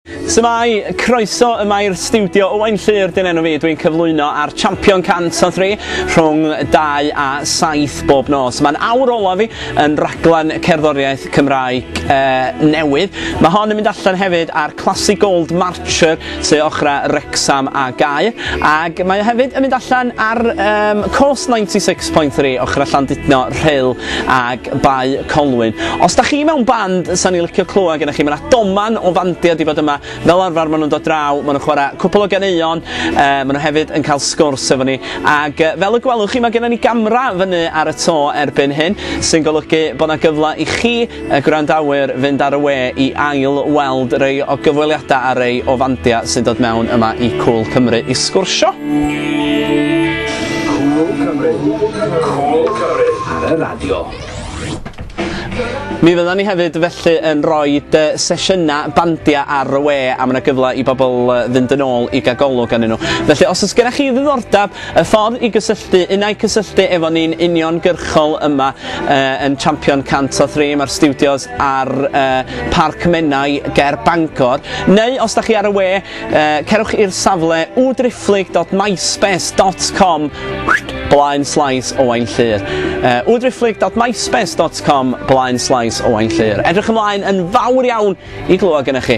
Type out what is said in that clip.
Shwmae, croeso yma i'r stiwdio Owain Llyr dyn enw fi, dwi'n cyflwyno ar Champion 103 rhwng 2 a 7 bob nos. Mae'n awr olaf fi yn raglen cerddoriaeth Cymraeg e, newydd. Mae hon yn mynd allan hefyd ar Classic Gold Marcher sy ochra Rexham a Gaer ac mae hefyd yn mynd allan ar um, Coast 96.3 ochra Llandudno, Rhyl ag Bae Colwyn. Os da chi mewn band, sa ni licio clywed gennych chi. Mae yna doman o fandiau di bod yma. Fel arfer, maen nhw'n dod draw, maen nhw'n chwarae cwpl o ganeuon, uh, maen nhw hefyd yn cael sgwrs efo ni. Ac uh, fel y gwelwch chi, mae gennym ni gamra fyny ar y to erbyn hyn, sy'n golygu bod yna gyfle i chi Y gwrandawyr fynd ar y we i ail weld rei o gyfweliadau a rei o fandiau sy'n dod mewn yma i Cŵl Cymru i sgwrsio. Cŵl Cymru, Cŵl Cymru ar y radio. Mi fyddan ni hefyd felly yn rhoi sesiynau bandiau ar y we a mae yna gyfle i bobl fynd yn ôl i gael golwg arnyn nhw. Felly os oes gennych chi ddiddordeb Y ffordd i gysylltu, unai cysylltu efo ni'n uniongyrchol yma yn Champion 103, mae'r stiwdios ar Parc Menai ger Bangor, neu os da chi ar y we, cerwch i'r safle wdriphlyg.myspace.com blaen slaes Owain Llyr. wdriphlyg.myspace.com blaen slaes Owain Llyr. Edrych ymlaen yn fawr iawn i glywed gyda chi.